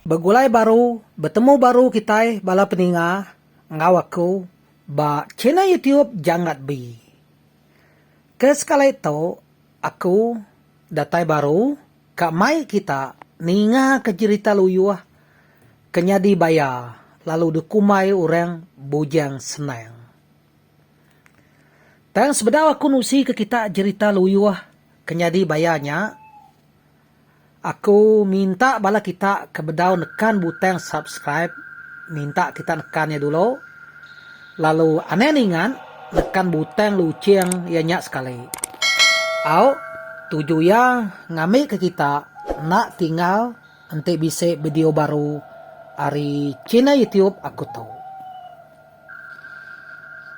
Begulai baru, betemu baru kitai bala peninga enggau aku ba channel YouTube Janggat Bee. Ke sekali tu, Aku datai baru ka mai kita ninga ke jerita luyuh ke nyadi baya lalu dikumbai orang Bujang Senang. Tang sebedau aku nusi ke kita jerita luyuh ke nyadi baya nya, Aku minta bala kita ke bedau nekan butang subscribe minta kita nekan iya dulu lalu anang ninga nekan butang luching iya nya sekali au tuju iya ngambi ke kita enda tinggal enti bisi video baru ari channel youtube aku tu.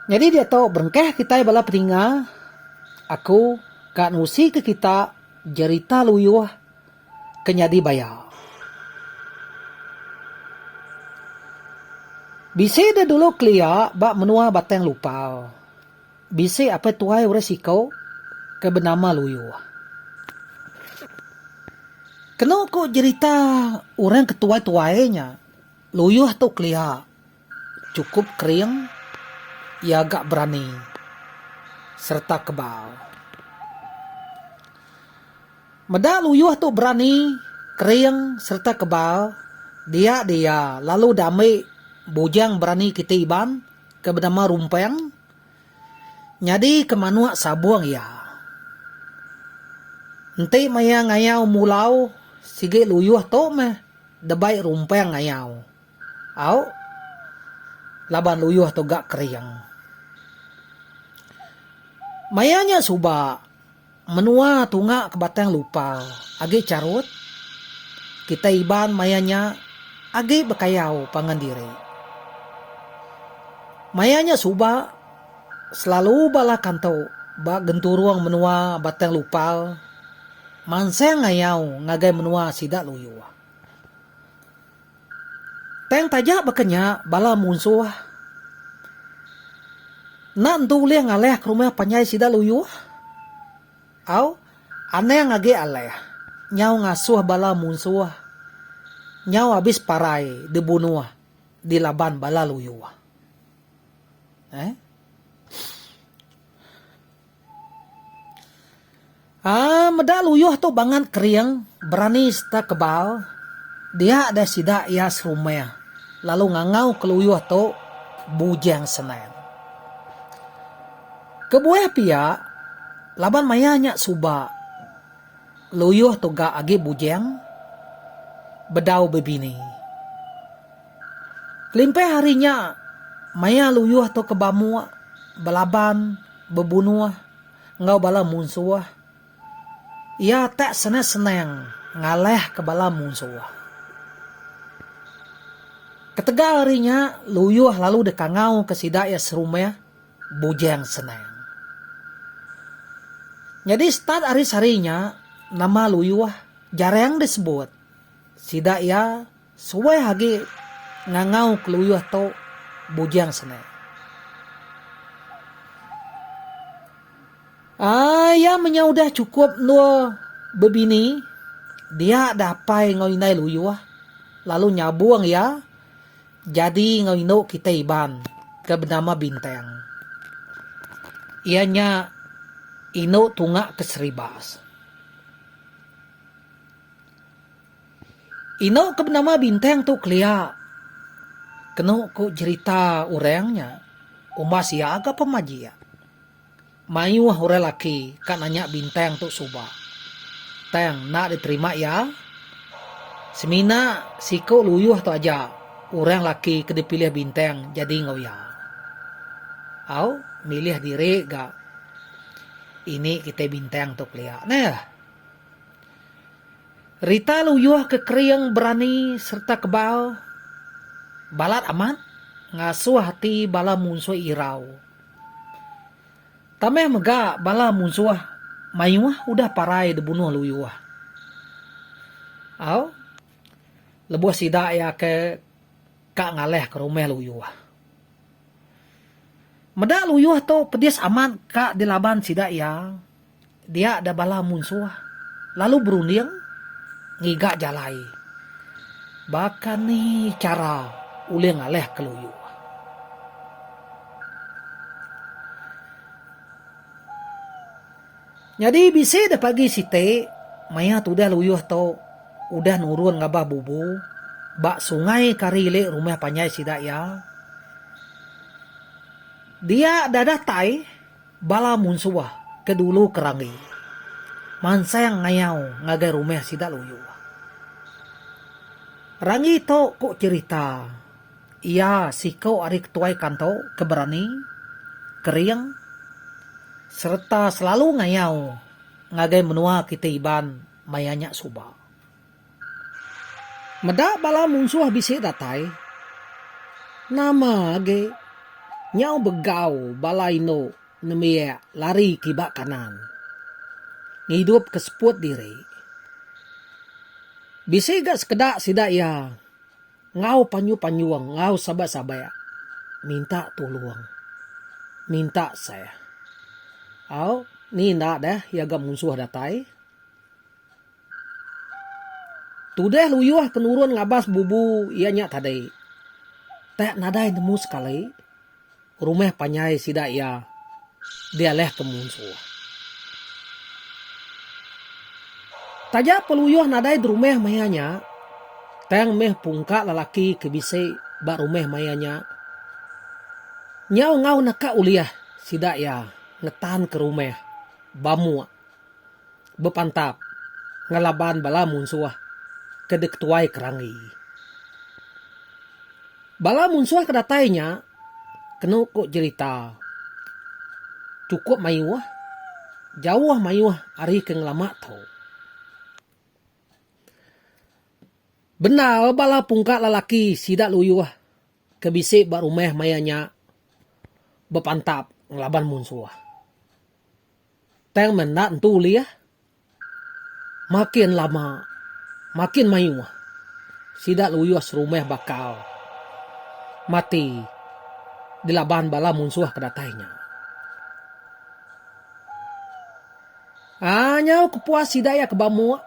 Nyadi diatu berengkah kitai bala peninga aku ka nusi ke kita. Jerita Luyuh ke nyadi baya. Bisi deh dulu kelia ba menua Batang Lupal. Bisi apai tuai orang siko ke benama Luyuh. Keno ko jerita orang ke tuai-tuai nya, Luyuh tu kelia. Chukup kering, iya ga berani sereta kebal. Meda Luyuh tu berani, kering sereta kebal, dia di iya lalu diambi bujang berani kiti Iban ke benama Rumpang nyadi ke manuk sabung iya. Enti maya ngayau mulau sigi Luyuh tu meh debai Rumpang ngayau. Au laban luyuh tu ga kering. Maya nya suba menua tunga ke Batang Lupau agi charut, kitai Iban maya nya agi bekayau pangan diri. Maya nya suba selalu bala kantu ba genturung menua Batang Lupau mansang ngayau ngagai menua sida luyuh. Tang taja baka nya bala munsuh enda entu ulih ngalih ke rumah panjai sida luyuh. Au, anang agi alah nyau ngasuh bala munsuh nyau abis parai dibunuh di laban bala luyuh. Eh. Aa meda luyuh tu bangat kering, berani serta kebal, dia deh sida iya serumah lalu ngangau ke luyuh tu Bujang Senang. Kebuah pia, laban maya nya suba luyuh tu ga agi bujang bedau bebini. Kelimpah ari nya, maya luyuh tu ke bamuk, belaban, bebunuh enggau bala munsuh, iya tak senang-senang ngalahka bala munsuh. Ketegal ari nya, luyuh lalu dikangauka sida iya serumah, bujang senang. Nyadi start ari sehari nya, nama luyuh jarang disebut. Sida iya. Suai agi ngangau keluyuh tu bujang sene. Ai iya menyau udah chukup endur bebini dia dah apai enggau indai luyuh lalu nyabung iya jadi enggau indu kitai Iban ke benama Bintang. Iya nya indu tunga ke Seribas. Inu ke benama bintang tu kelia? Kenu ku jerita orang nya, umbas iya ga pemajik, mayuh orang laki ka nanya bintang tu suba. Tang enda diterima iya. Semina siku luyuh tu aja orang laki ke dipilih bintang jadi enggau iya. Au, milih diri ga ini kitai bintang tu kelia neh. Rita luyuh ke kering berani sereta kebal balat amat ngasuh ati bala munsuh irau. Tambah mega bala munsuh mayuh udah parai dibunuh luyuh. Au lebuh sida iya ke ka ngalih ke rumah luyuh. Meda luyuh tu pedis amat ka dilaban sida iya. Dia da bala munsuh lalu berunding ngiga jalai baka ni chara ulih ngalih ke loyo. Nyadi bisi da pagi siti maya tudah loyo tu udah nurun ngabah bubu ba sungai kari ili rumah panjai sida iya. Dia da datai. Bala munsuh ke dulu ke ranggi mansang ngayau ngagai rumah sida Luyu. Ranggi tu ku cherita iya siku ari ketuai kanto ke berani, kering sereta selalu ngayau ngagai menua kitai Iban maya nya suba. Meda bala munsuh bisi datai, nama agi nyau begau bala indu nembiak lari kiba kanan ngidup ke seput diri. Bisi ga sekeda sida iya enggau panjung-panjung enggau sabak-sabak minta tulung, minta seh. Au ni enda deh iya ga munsuh datai. Tudah luyuh penurun ngabas bubu iya nya tadi. Teh nadai nemu sekali, rumah panjai sida iya dialah ke munsuh. Taja peluyuh nadai derumah maya nya, tang meh pungka lelaki ke bisi ba rumah maya nya nyau enggau naka ulih sida iya ngetanka rumah bamuk. bepantap ngelaban bala munsuh ke diketuai kerangi. Bala munsuh ke datai nya kenu ku jerita chukup mayuh jauh mayuh ari ke ngelama tu. Bendar bala pungka lelaki sida luyuh ke bisi ba rumah maya nya bepantap ngelaban munsuh. Tang menda entu ulih makin lama makin mayuh sida luyuh serumah bakal mati dilaban bala munsuh ke datai nya. Aa nyau kepuas sida iya ke ba muk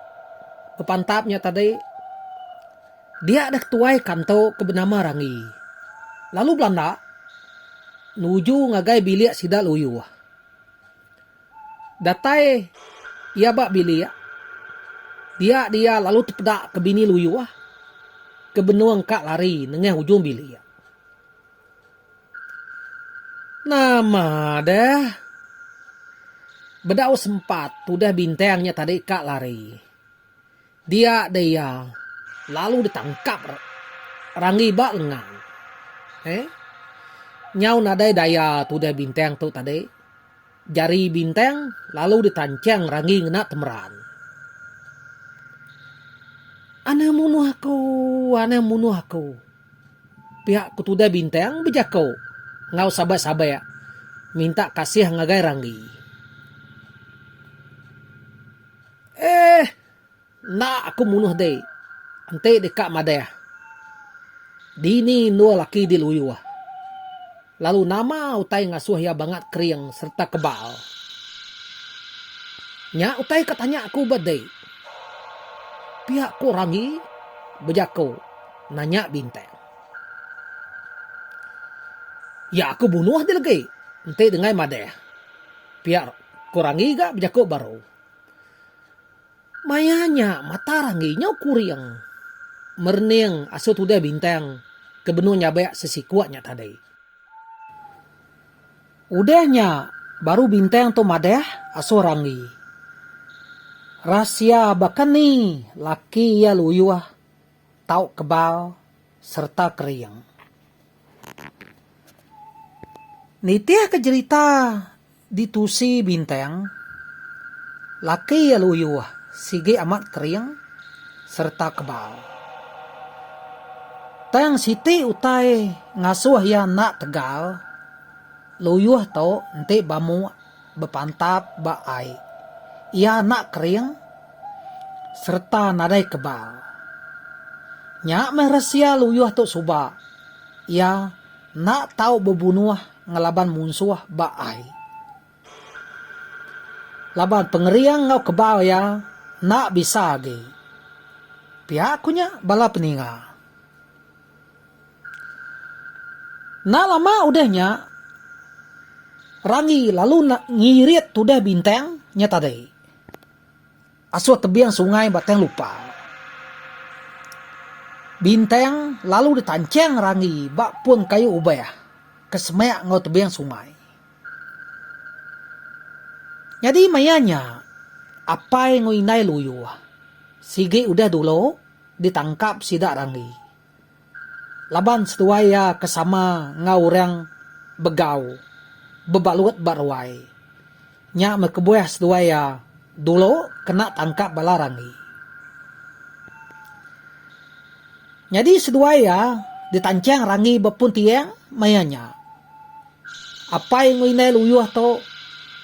bepantap nya tadi dia deh ketuai kantu ke benama Rangi lalu belanda nuju ngagai bilik sida luyuh. Datai iya ba bilik, dia dia lalu tepeda ke bini luyuh ke benung ka lari nengah ujung bilik. Nama deh. Bedau sempat tudah bintang nya tadi ka lari. Dia deh iya lalu ditangkap Ranggi ba lengan. He. Nyau nadai daya tudah Bintang tu tadi. Jari Bintang lalu ditanchang Ranggi ngena temeran. Anang munuh aku, anang munuh aku. Piak ku tudah Bintang bejako enggau sabak-sabak minta kasih ngagai Ranggi. Eeh. Enda aku munuh deh. Enti deka madah. Dini endur laki diluyuh. Lalu nama utai ngasuh iya bangat kering sereta kebal. Nya utai ka tanya aku ba deh. Pia ku Rami bejaku nanya Bintang. Ya aku bunuh deh legi enti dengai madah. Pia ku Rami ga bejaku baru. Maya nya mata Ranggi nyau kuring merening asur tudah bintang ke benung nyabak sesiku nya tadi. Udah nya baru bintang tu madah asur Ranggi. Rahsia baka ni laki iya luyuh tau kebal sereta kering. Nitihka jerita. Di tusi bintang, laki iya luyuh sigi amat kering sereta kebal. Tang siti utai ngasuh iya enda tegal, luyuh tu enti bamuk bepantap ba ai, iya enda kering sereta nadai kebal. Nya meh resia luyuh tu suba iya enda tau bebunuh ngelaban munsuh ba ai. Laban pengering enggau kebau iya enda bisa agi. Pia ku nya bala peninga. Enda lama udah nya, Ranggi lalu ngirit tudah bintang nya tadi. Asuh tebing sungai Batang Lupa. Bintang lalu ditanchang Ranggi ba pun kayu ubah ke semak enggau tebing sungai. Nyadi maya nya, apai enggau indai Luyuh sigi udah dulu ditangkap sida Ranggi Laban seduai iya ke sama enggau orang Begau bebalut ba ruai nya meh kebuah seduai iya dulu kena tangkap bala Rangi. Nyadi seduai iya ditanchang Rangi ba pun tiang maya nya. Apai enggau indai Luyuh tu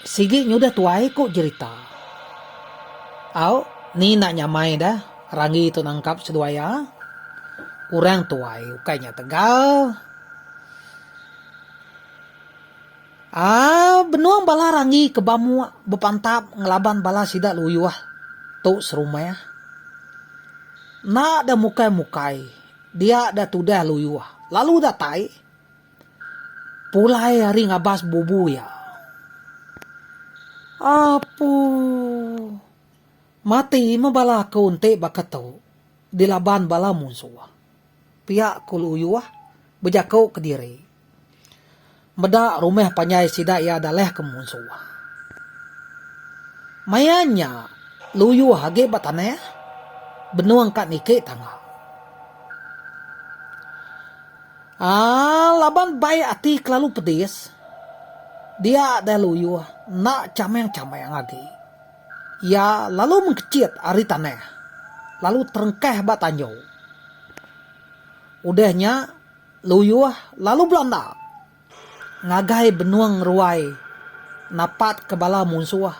sigi nyudah tuai ku jerita. Au ni enda nyamai dah Ranggi tu nangkap seduai iya. Orang tuai ukai nya tegal. Aa benung bala Ranggi ke ba mua bepantap ngelaban bala sida Luyuh tu serumah. Enda dah mukai-mukai dia dah tudah Luyuh lalu datai Pulai ari ngabas bubu iya. Apuh. Mati meh bala aku enti baka tu. Dilaban bala munsuh. Pia ku Luyuh bejaku kediri. Meda rumah panjai sida iya dalahka munsuh. Maya nya Luyuh agi ba tanah benung ka niki tangga. Aaa laban bai ati kelalu pedis dia deh luyuh enda chameng-chameng agi. Iya lalu mengkechit ari tanah lalu terengkah ba tanju. Udah nya luyuh lalu belanda ngagai benung ngeruai napatka bala munsuh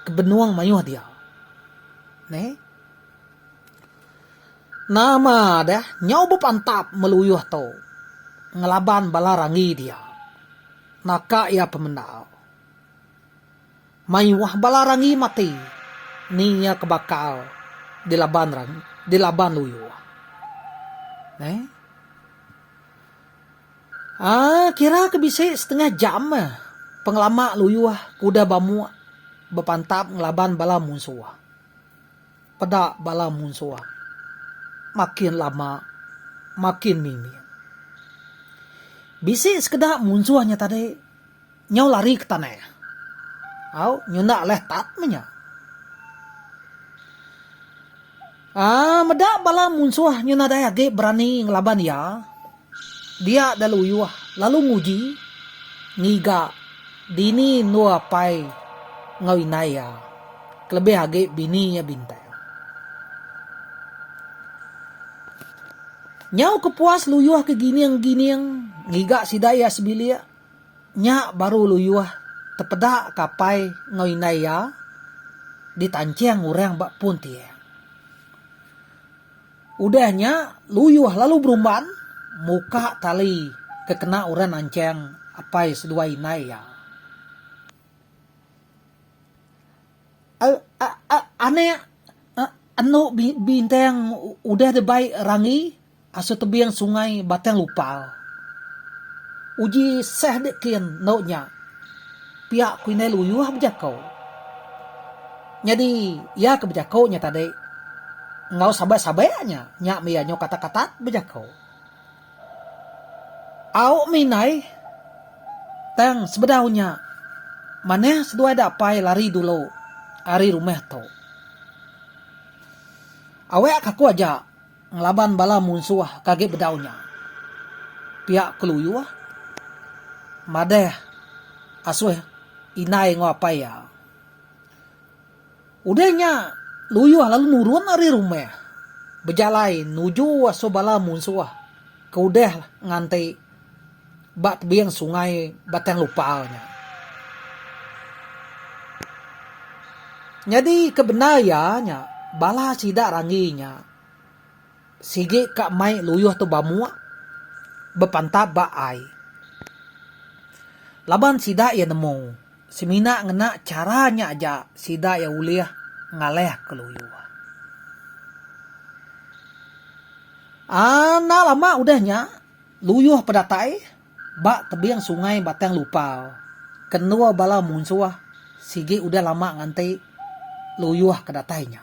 ke benung mayuh dia. Neh. Nama deh nyau bepantap meluyuh tu ngelaban bala ranggi dia. Naka iya pemendar. Mayuh bala ranggi mati ni iya ke bakal dilaban rang dilaban luyuh. Neh. Aa kira ke bisi setengah jam meh pengelama luyuh ke udah bamuk bepantap ngelaban bala munsuh. Peda bala munsuh makin lama makin mimit. Bisi sekeda munsuh nya tadi nyau lari ke tanah. Au, nyunda leh tat meh nya. Aa, meda bala munsuh nyau nadai agi berani ngelaban iya, Dia Daluyuh lalu nguji ngiga dini endur apai enggau indai iya, kelebih agi bini iya bintang. Nyau ke puas Luyuh ke gining-gining ngiga sida iya sebilik, nya baru Luyuh tepeda ke apai enggau indai iya ditancing orang ba pun tiang. Udah nya, Luyuh lalu berumban muka tali ke kena orang nanchang apai seduai indai iya. Anak anu bintang udah dibai Ranggi asu tebing sungai Batang Lupal. Uji sah dek kin endo nya, pia ku indai Luyuh bejako. Nyadi, iya ke bejako nya tadi enggau sabek-sabek nya, nya meh iya nyau katat-katat bejako. Au meh indai, tang sebedau nya manah seduai da apai lari dulu ari rumah tu. Awek ka aku aja ngelaban bala munsuh ke agi bedau nya. Pia keluyuh madah asuh indai enggau apai iya. Udah nya, Luyuh lalu nurun ari rumah, bejalai nuju asu bala munsuh ke udah nganti ba tebing sungai Batang Lupal nya. Nyadi ke bendar iya nya, bala sida ranggi nya. Sigi ka mai luyuh tu bamuk bepantap ba ai. Laban sida iya nemu, semina ngena chara nya aja sida iya ulih ngalahka luyuh. Enda lama udah nya, luyuh pedatai ba tebing Sungai Batang Lupau ke endur bala munsuh sigi udah lama nganti luyuh ke datai nya.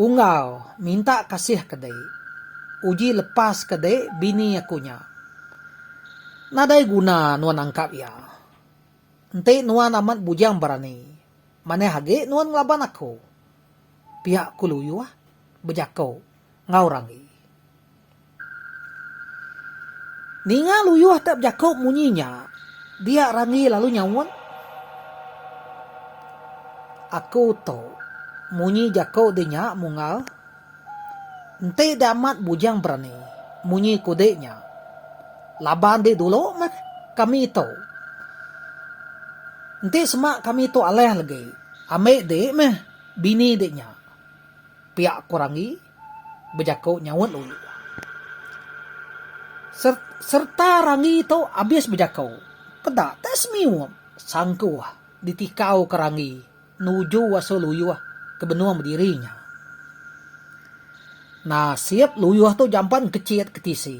Unggal minta kasih ke dek. Uji lepas ke dek bini aku nya. Nadai guna nuan angkap iya. Enti nuan amat bujang berani, manah agi nuan ngelaban aku. Pia Kuluyuh bejako enggau Ranggi. Ninga Luyuh tak bejaku munyi nya, dia Randi lalu nyaut, Aku tu munyi jaku di nya Munggal. Enti da amat bujang berani munyi ku di nya, laban di dulu meh kami tu. Enti sema kami tu alah lagi, ambi di meh bini di nya, pia ku Randi. bejako nyaut luli. Ser serta Rangi tu abis bejako, peda tak semiup sangkuh ditikau ke Rangi nuju asu luyuh ke benung bediri nya. Nasip luyuh tu jampan kecit ke tisi,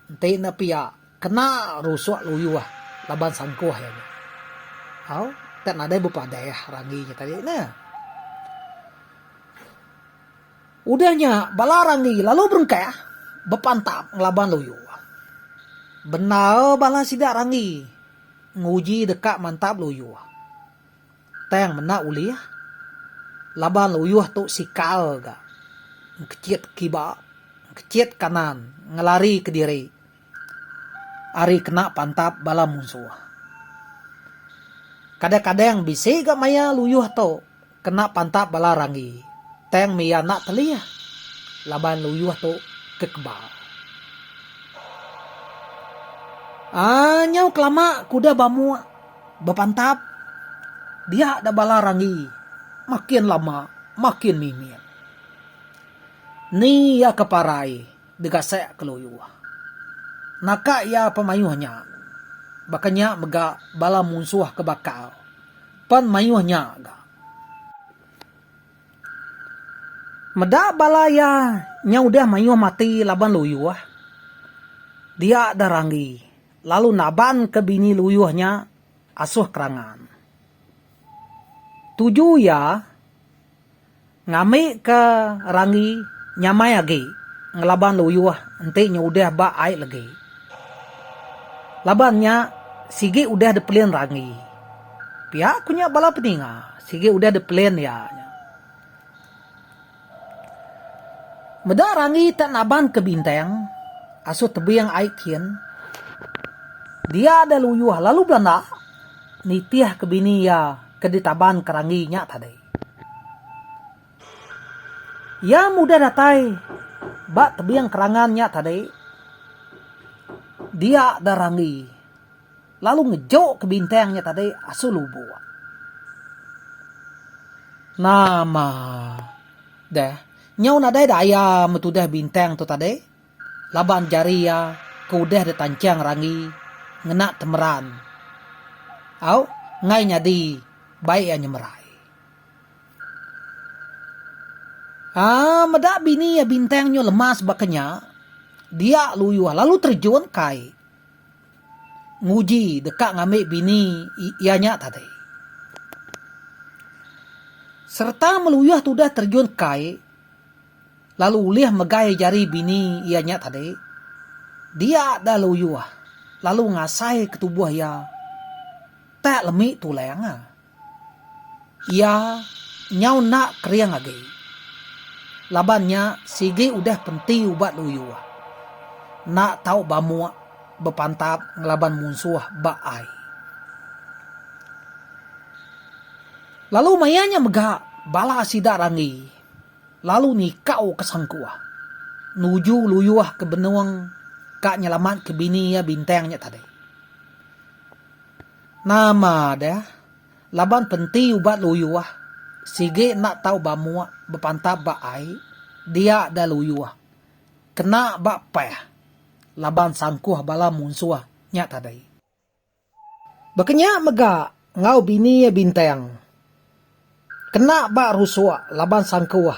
enti enda pia kena rusuk luyuh laban sangkuh iya nya. Au, tak nadai bepadah Rangi nya tadi neh. Udah nya, bala Randi lalu berengkah bepantap ngelaban luyu. Bendar bala sida Randi nguji deka mantap luyu. Tang menda ulih laban luyu tu sikal ga engkechit kiba, engkechit kanan ngelari kediri ari kena pantap bala munsuh. Kadang-kadang bisi ga maya luyu tu Kena pantap bala ranggi. Tang mih iya enda telih laban luyuh tu kekebal. Aaa nyau kelama kuda bamuk bepantap dia da bala ranggi makin lama makin mimit. Ni iya ke parai. Degasak ke Luyuh. Naka iya pemayuh nya. Baka nya mega bala munsuh ke bakal pen mayuh nya ga. Meda bala iya nya udah mayuh mati laban Luyuh. Dia da Ranggi lalu naban ke bini Luyuh nya Asuh Kerangan. Tuju iya. Ngambika ranggi nyamai agi ngelaban luyuh enti nya udah ba ai legi. Laban nya sigi udah dipelin ranggi. Pia ku nya bala peninga sigi udah dipelin iya nya. Meda ranggi te naban ke bintang asu tebing ai kin dia deh luyuh lalu belanda nitih ke bini iya. ke ditaban kerangi nya tadi. Iya mudah datai ba tebing kerangan nya tadi dia da rangi lalu ngejoka bintang nya tadi asu lubuk. Nama deh nyau nadai daya metudah bintang tu tadi. Laban jari iya ke udah ditancang Ranggi ngena temeran au enggai nyadi bai iya nyemerai. Aa meda bini iya Bintang nyu lemas baka nya, dia Luyuh lalu terjun kai nguji deka ngambi bini iya nya tadi. Sereta Meluyuh tudah terjun kai, lalu ulih megai jari bini iya nya tadi, dia da luyuh lalu ngasai ke tubuh iya tak lemi tulang. Iya nyau enda kering agi laban nya sigi udah penti ubat luyuh enda tau bamuk bepantap ngelaban munsuh ba ai. Lalu maya nya mega bala sida ranggi. lalu nikau ke sangkuah nuju luyuh ke benung ka nyelamat ke bini iya bintang nya tadi. Nama deh laban penti ubat luyuh sigi enda tau bamuk bepantap ba ai dia deh luyuh kena ba pah laban sangkuh bala munsuh nya tadi. Baka nya mega enggau bini iya Bintang. Kena ba rusuk laban sangkuh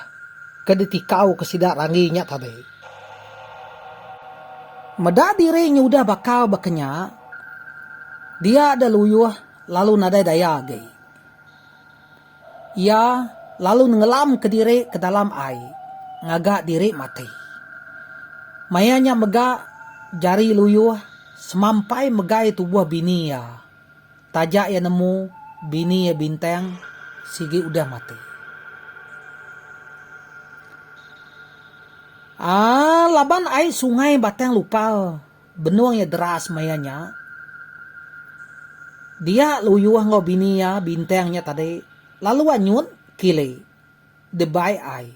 ke ditikauka sida Randi nya tadi. Meda diri nyudah bakal baka nya, dia da luyuh lalu nadai daya agi. Iya lalu nenggelamka diri ke dalam ai ngaga diri mati. Maya nya mega Jari Luyuh semampai megai tubuh bini iya taja iya nemu bini iya Bintang sigi udah mati. Aa laban ai sungai Batang Lupal Benung iya deras maya nya, dia Luyuh enggau bini iya Bintang nya tadi lalu anyut kili dibai ai.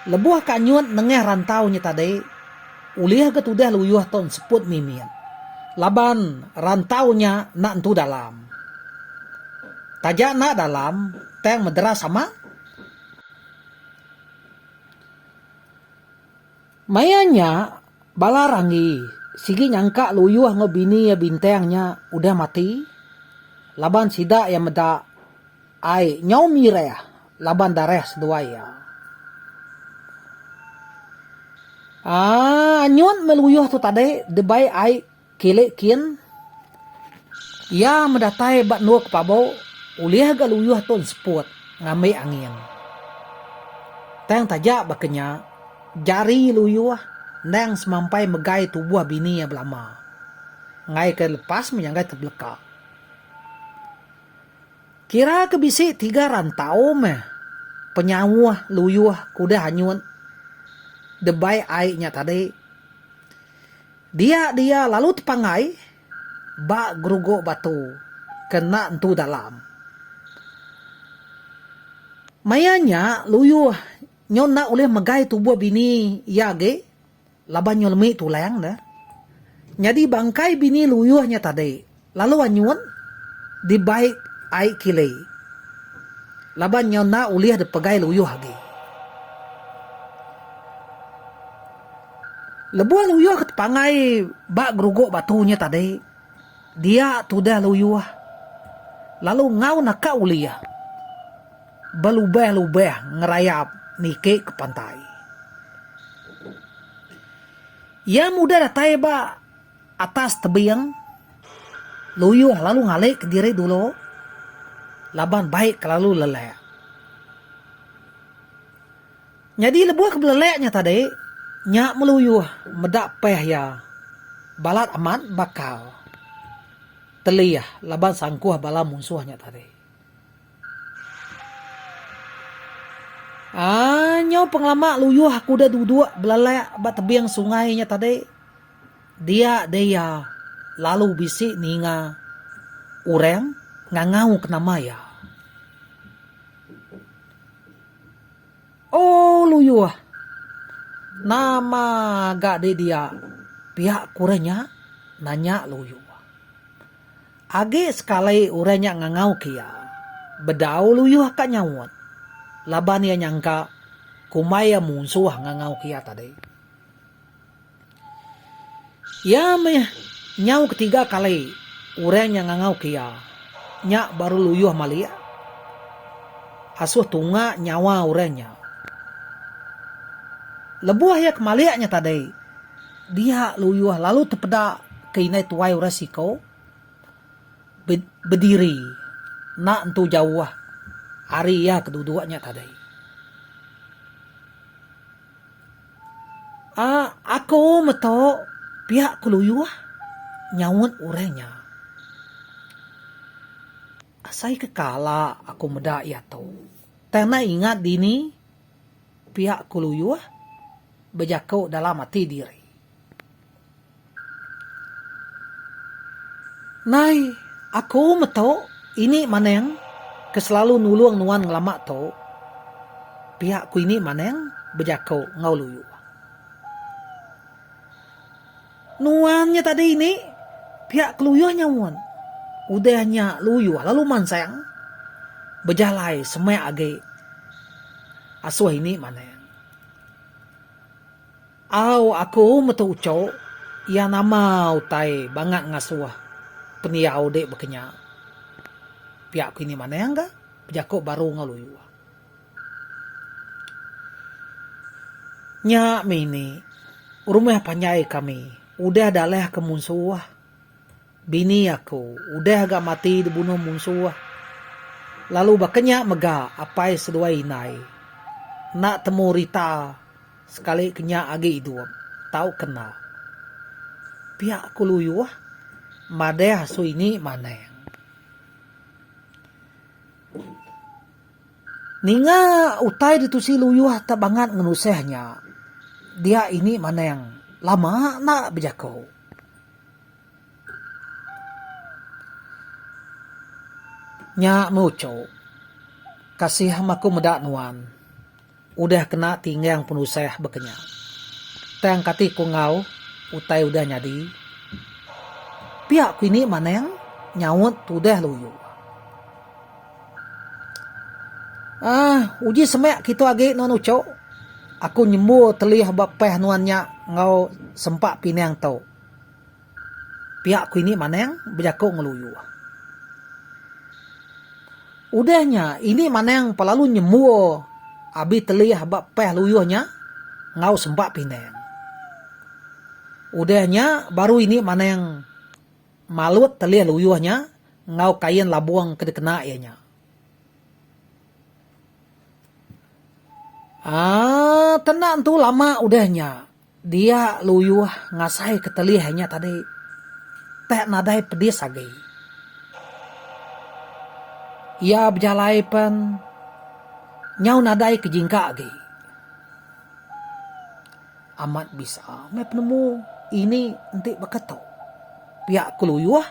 Lebuh ka anyut nengah rantau nya tadi, ulih ga tudah Luyuh tu enseput mimit laban rantau nya enda nentu dalam. Taja enda dalam, tang mederas amat. Maya nya, bala Ranggi sigi nyangka Luyuh enggau bini iya Bintang nya udah mati laban sida iya meda ai nyau mirih laban darah seduai iya. Aaa anyut meh Luyuh tu tadi dibai ai. Kili kin, iya medatai ba endur ke pabu ulih ga luyuh tu enseput ngambi angin. Tang taja baka nya, jari luyuh endang semampai megai tubuh bini iya belama ngaika lepas menyanggai tebeleka. Kira ke bisi tiga rantau meh penyauh luyuh ke udah anyut debai ai nya tadi. Dia dia lalu tepanggai ba geruguk batu ke enda entu dalam. Maya nya Luyuh nyau enda ulih megai tubuh bini iya agi laban nyau lemi tulang dah. Nyadi bangkai bini Luyuh nya tadi. Lalu anyun dibai ai kile. Laban nyau enda ulih dipegai luyuh agi. Lebuh luyuh ke tepangai ba geruguk batu nya tadi, dia tudah luyuh lalu enggau naka ulih belubah-lubah ngerayap niki ke pantai. Iya mudah datai ba. Atas tebing, Luyuh lalu ngalika diri dulu laban bai kelalu lelak. Nyadi lebuh ke belelak nya tadi, nya meh Luyuh meda peh iya balat amat bakal telih laban sangkuh bala munsuh nya tadi. Aaa nyau pengelama luyuh aku udah duduk belelak ba tebing sungai nya tadi dia deh iya lalu bisi ninga orang ngangau ke nama iya. Ooh luyuh nama ga deh dia pia ku orang nya nanya luyuh. Agi sekali orang nya ngangauka iya, bedau luyuh ka nyaut, laban iya nyangka kumbai iya munsuh ngangauka iya tadi. Iya meh nyau ketiga kali orang nya ngangauka iya, nya baru luyuh malik asuh tunga nyawa orang nya. Lebuh iya ke malik nya tadi, dia luyuh lalu tepeda ke indai tuai orang siko. bediri enda entu jauh ari iya keduduk nya tadai aaa aku meto piak keluyuh nyaut orang nya asai ke kala aku meda iya tu tang enda ingat dini piak keluyuh bejaku dalam ati diri. Nai, aku meto ini maneng ke selalu nulong nuan ngelama to. Pia ku ini maneng bejako enggau Luyu. Nuan nya tadi ini pia ke Luyuh nya mun. Udah nya Luyuh lalu mansang bejalai semak agi asoh ini maneng. Au aku metu uco iya nama utai bangat ngasuh pendiau dek bekenya pia ku ini manang ga bejaku baru enggau luyu. Nya mih ini rumah panjai kami udah dalah ke munsuh. Bini aku udah ga mati dibunuh munsuh. Lalu baka nya mega apai seduai indai. Enda temu Rita sekali ke nya agi idup tauka enda. Pia aku luyuh madah Suini manang. Ninga utai ditusi luyuh tak bangat ngenusah nya dia ini manang lama enda bejaku. Nya lucu. Kasih am aku meda nuan. Udah kena tinggang penusah baka nya. Tang kati ku enggau utai udah nyadi. Pia ku ini manang nyaut tudah luyu. Aaa uji semak kitu agi nuan uchu. Aku nyembur telih ba pah nuan nya enggau sempa pinang tu. Piak ku ini Manang bejaku ngeluyu. Udah nya ini Manang pa lalu nyembur abi telih ba peh luyuh nya enggau semba pinang. Udah nya baru ini Manang malut telih luyuh nya enggau kain labung ke dikena iya nya. Aaa tena entu lama udah nya. Dia luyuh ngasai ketelih nya tadi. Tak nadai pedis agi. Iya bejalai pen nyau nadai ke jingka agi. Amat bisa meh penemu ini enti baka tu. Pia ku luyuh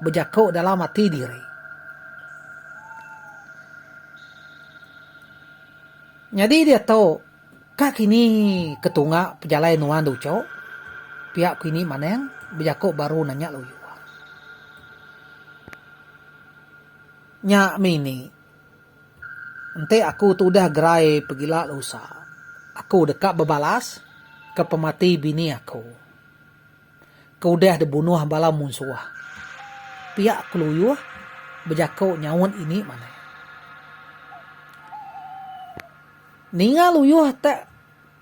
bejaku dalam ati diri. Nyadi diatu. Ka kini ketunga pejalai nuan Ducho, pia ku ini Maneng bejako baru nanya lalu Iwa. Nya mini, enti aku tu udah gerai pegila lusa, aku deka bebalas ke pemati bini aku ke udah dibunuh bala munsuh, pia ku Luyuh bejako nyaut ini Maneng. Ninga Luyuh te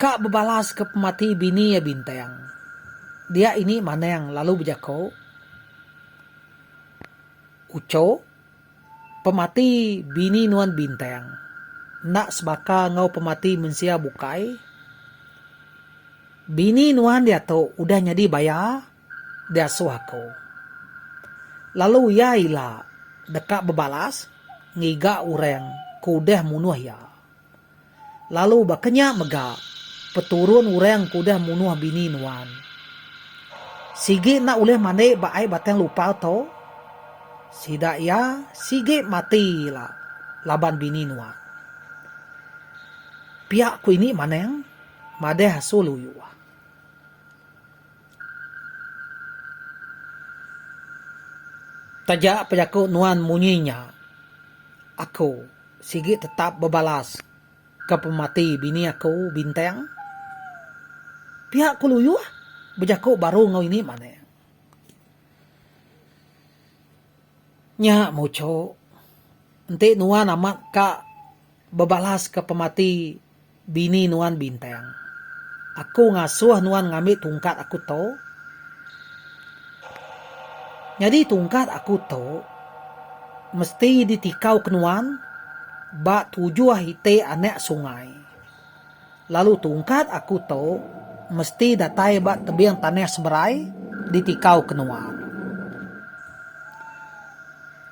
ka bebalas ke pemati bini iya Bintang. Dia ini Manang lalu bejako, Ucho, pemati bini nuan Bintang enda sebaka enggau pemati mensia bukai. Bini nuan diatu udah nyadi baya diasuh aku. Lalu iya ila deka bebalas ngiga orang ke udah munuh iya. Lalu baka nya mega peturun orang ke udah munuh bini nuan. Sigi enda ulih mandi ba ai batang lupau tu? Sida iya sigi mati ila laban bini nuan. Pia ku ini Manang madah asuh Luyuh. Taja pejaku nuan munyi nya, aku sigi tetap bebalas ke pemati bini aku Bintang. Pia ku Luyuh bejaku baru enggau ini manah. Nya muchok enti nuan amat ka Bebalaska pemati bini nuan Bintang. Aku ngasuh nuan ngambi tungkat aku tu. Nyadi tungkat aku tu mesti ditikauka nuan ba tujuh iti anak sungai. Lalu tungkat aku tu mesti datai ba tebing tanah seberai ditikau ke nuan.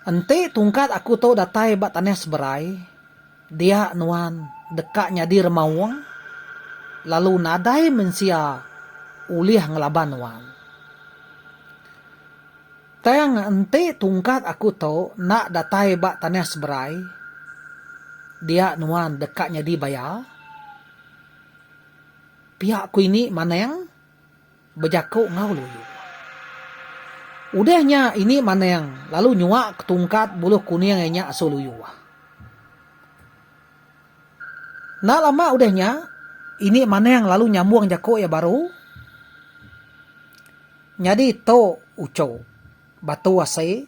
Enti tungkat aku tu datai ba tanah seberai, dia nuan deka nyadi remaung lalu nadai mensia ulih ngelaban nuan. Tang enti tungkat aku tu enda datai ba tanah seberai, dia nuan deka nyadi baya. Pia ku ini Manang bejaku enggau Lulu. Udah nya ini Manang lalu nyuaka tungkat buluh kuning iya nya asu Lulu. Enda lama udah nya, ini Manang lalu nyambung jaku iya baru nyadi tu uchu, batu asi,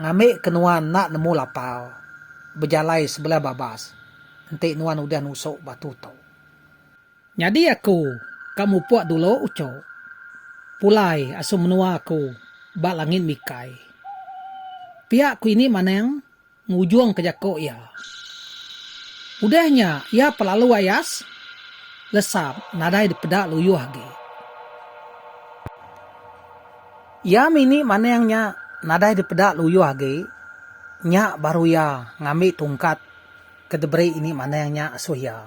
ngambi ke nuan enda nemu lapau bejalai sebelah babas enti nuan udah nusu batu tu. Nyadi aku ka mupuk dulu uchu, pulai asu menua aku ba langit mikai. Pia ku ini Manang. ngujungka jaku iya. Udah nya iya pelalu ayas lesap nadai dipeda luyuh agi. Iya mini maning nya nadai dipeda luyuh agi, nya baru iya ngambi tungkat ke diberi ini maning nya asuh iya.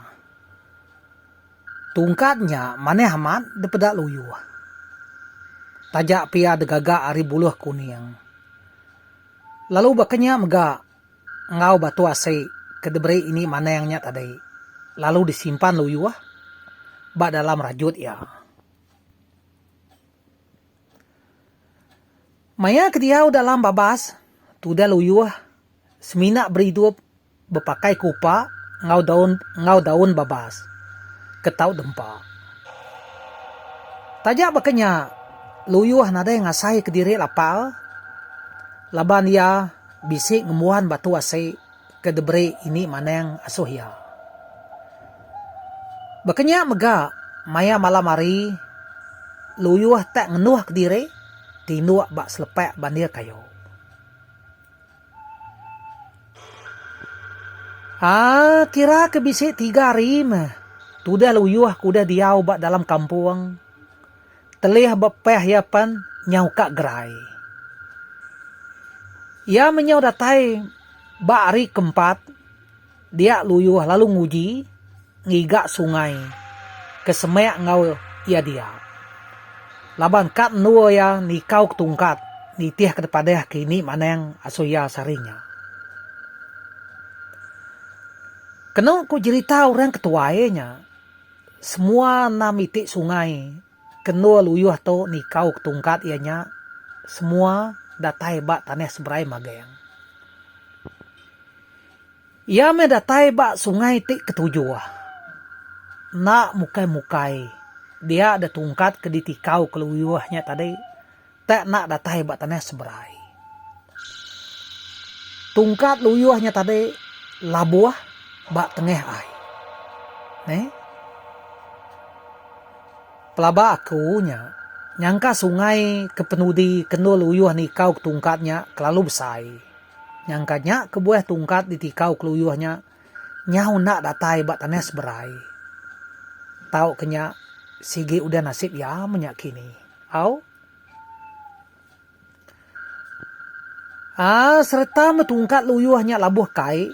Tungkat nya manah amat dipeda luyuh. Taja pia degaga ari buluh kuning. Lalu baka nya mega enggau batu asi ke diberi ini Manang nya tadi lalu disimpan luyuh ba dalam rajut iya. Maya ke diau dalam babas tudah luyuh semina beridup. Bepakai kupa enggau daun enggau daun babas ke tau dempa. Taja baka nya, Luyuh nadai ngasaika diri lapar laban iya bisi ngembuan batu asi ke diberi Ini Manang asuh iya. Baka nya mega, maya malam hari, Luyuh tak ngenuhka diri tinduk ba selepak bandir kayu. Aa kira ke bisi tiga hari meh tudah luyuh ke udah diau ba dalam kampung telih ba peh iya pen nyau ka gerai. Iya menyau datai ba hari ke empat. Dia Luyuh lalu nguji ngiga sungai ke semek enggau iya dia. Laban kad endur iya nikau ke tungkat nitih ke tepadah ke ini manang asu iya sehari nya. Kenu ku jerita orang ke tuai nya, semua enam iti sungai. Kendur Luyuh tu nikau ke tungkat iya nya semua datai ba tanah seberai Magang. Iya meh datai ba sungai ti ketujuh. Enda mukai-mukai dia da tungkat ke ditikau ke Luyuh nya tadi. tak nak datai ba tanah seberai. Tungkat luyuh nya tadi labuh ba tengah ai. Neh. Pelaba aku nya nyangka sungai kepenudi kendul luyuh nikau ke tungkat nya kelalu besai. Nyangka nya kebuah tungkat ditikau ke luyuh nya. Nyau enda datai ba tanah seberai. Tau ke nya sigi udah nasib iya menya kini. Au. Aa sereta meh tungkat luyuh nya labuh kai,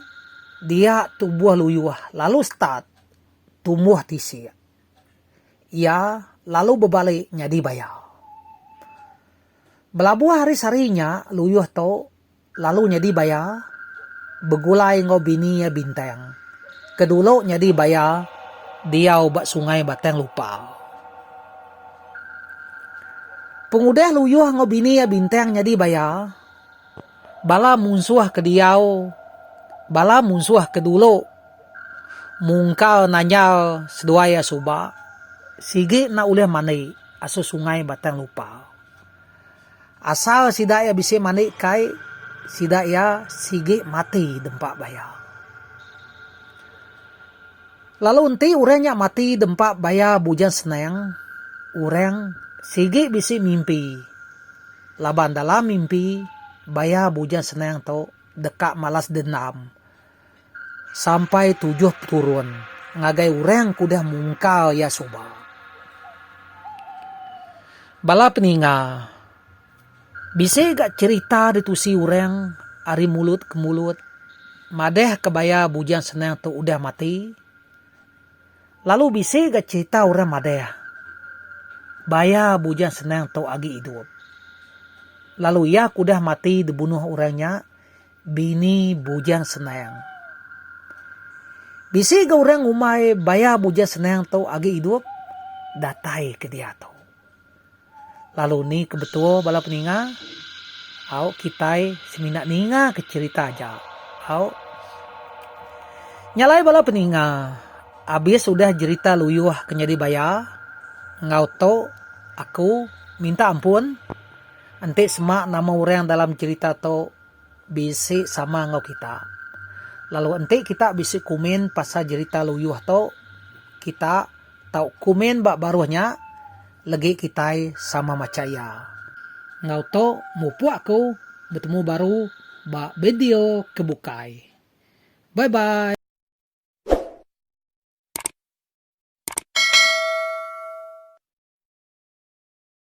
dia tubuh luyuh lalu start tumbuh tisik. Iya lalu bebalik nyadi bayau. Belabuh hari sehari nya luyuh tu Lalu nyadi baya begulai enggau bini iya Bintang ke dulu nyadi baya diau ba sungai Batang Lupa. Pengudah Luyuh enggau bini iya Bintang nyadi baya, bala munsuh ke diau bala munsuh ke dulu mungkal nanyal seduai iya suba sigi enda ulih mandi asuh sungai Batang Lupa. Asal sida iya bisi mandi kai sida iya sigi mati dempa baya. Lalu enti orang nya mati dempa baya Bujang Senang orang sigi bisi mimpi laban dalam mimpi baya Bujang Senang tu deka malas dendam. Sampai tujuh peturun ngagai orang ke udah mungkal iya suba. Bala peninga, bisi ga cherita ditusi orang ari mulut ke mulut madah ke baya Bujang Senang tu udah mati. Lalu bisi ga cherita orang madah baya Bujang Senang tu agi idup. Lalu iya ke udah mati dibunuh orang nya Bini bujang senang. Bisi ga orang ngumbai baya bujang senang tu agi idup datai ke diatu. Lalu ni ke betul bala peninga? Au kitai semina ninga ke cherita aja. Au. Nya alai bala peninga abis udah jerita luyuh ke nyadi baya enggau tu aku minta ampun enti sema nama orang dalam cherita tu. bisi sama enggau kita. Lalu enti kita bisi komen pasal jerita luyuh tu, kita tau komen ba baruh nya legi kitai sama macha iya. Enggau tu mupuk aku betemu baru ba bideo ke bukai. Bye bye.